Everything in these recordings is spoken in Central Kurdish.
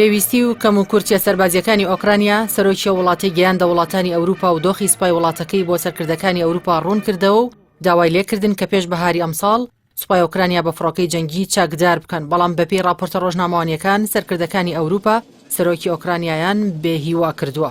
پێویستی و کەم و کورتیە سەربازیەکانی ئۆکرانیا سەرۆکی وڵاتی گەیاندە وڵاتانی ئەوروپا و دۆخی سپای وڵاتەکەی بۆ سەرکردەکانی ئەوروپا ڕوون کردەوە و داوای لێکردن کە پێش بەهاری ئەمساڵ سوپای ئۆکرانیا بە فڕۆکەی جەنگی چاکدار بکەن بەڵام بەپێی راپۆرتە ڕۆژنامەوانیەکان سەرکردەکانی ئەوروپا سەرۆکی ئۆکرانیایان بێهیوا کردووە.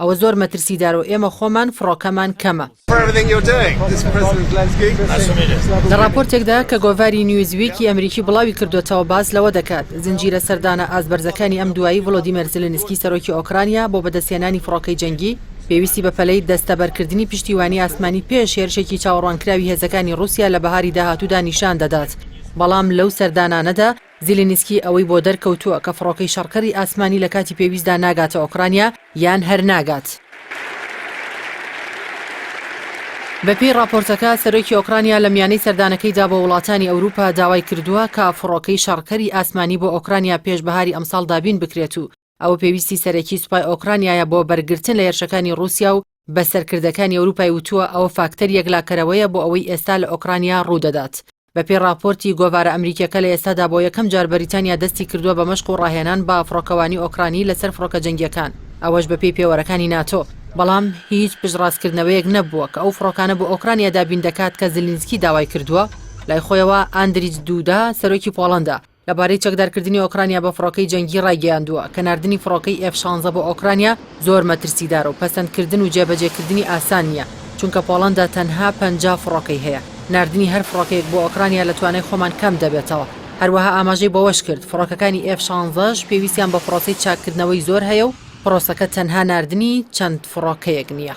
ئەوە زۆر مەترسیدارە و ئێمە خۆمان فڕۆکەمان کەمە. لە ڕاپۆرتێکدا کە گۆڤاری نیوزویکی ئەمریکی بڵاوی کردووەتەوە باس لەوە دەکات، زنجیرە سەردانە ئاست بەرزەکانی ئەم دوایی ڤڵۆدیمێر زیلینسکی سەرۆکی ئۆکرانیا بۆ بەدەستهێنانی فڕۆکەی جەنگی، پێویستی بە پەلەی دەستەبەرکردنی پشتیوانی ئاسمانی پێش هێرشێکی چاوەڕوانکراوی هێزەکانی ڕووسیا لە بەهاری داهاتوودا نیشان دەدات، بەڵام لەو سەردانانەدا، زیلینسکی ئەوەی بۆ دەرکەوتووە کە فڕۆکەی شەڕکەری ئاسمانی لە کاتی پێویستدا ناگاتە ئۆکرانیا یان هەر ناگات. بەپێی ڕاپۆرتەکە، سەرۆکی ئۆکرانیا لە میانەی سەردانەکەیدا بۆ وڵاتانی ئەوروپا داوای کردووە کە فڕۆکەی شەڕکەری ئاسمانی بۆ ئۆکرانیا پێش بەهاری ئەمساڵ دابین بکرێت و ئەوە پێویستی سەرەکی سوپای ئۆکرانیایە بۆ بەرگرتن لە هێرشەکانی ڕووسیا و بە سەرکردەکانی ئەوروپای وتووە ئەوە فاکتەر یەکلاکەرەوەیە بۆ ئەوەی ئێستا لە ئۆکرانیا ڕوودەدات. بەپێی ڕاپۆرتی گۆڤارە ئەمریکییەکە لە ئێستادا بۆ یەکەم جار بەریتانیا دەستی کردووە بە مەشق و ڕاهێنان بە فڕۆکەوانی ئۆکرانی لەسەر فڕۆکە جەنگییەکان، ئەوەش بەپێی پێوەرەکانی ناتۆ، بەڵام هیچ پشتڕاستکردنەوەیەک نەبووە کە ئەو فڕۆکانە بۆ ئۆکرانیا دابین دەکات کە زیلینسکی داوای کردووە. لای خۆیەوە ئاندریج دوودا، سەرۆکی پۆڵەندا، لەبارەی چەکدارکردنی ئۆکرانیا بە فڕۆکەی جەنگی ڕایگەیاندووە کە ناردنی فڕۆکەی ئێف شانزە بۆ ئۆکرانیا زۆر مەترسیدارە و پەسەندکردن و جێبەجێکردنی ئاسان نییە، چونکە پۆڵەندا تەنها پەنجا فڕۆکەی هەیە، ناردنی هەر فڕۆکەیەک بۆ ئۆکرانیا لە توانای خۆمان کەم دەبێتەوە. هەروەها ئاماژەی بەوەشکرد، فڕۆکەکانی ئێف شانزەش پێویستیان بە پڕۆسەی چاککردنەوەی زۆر هەیە و پڕۆسەکە تەنها ناردنی چەند فڕۆکەیەک نییە.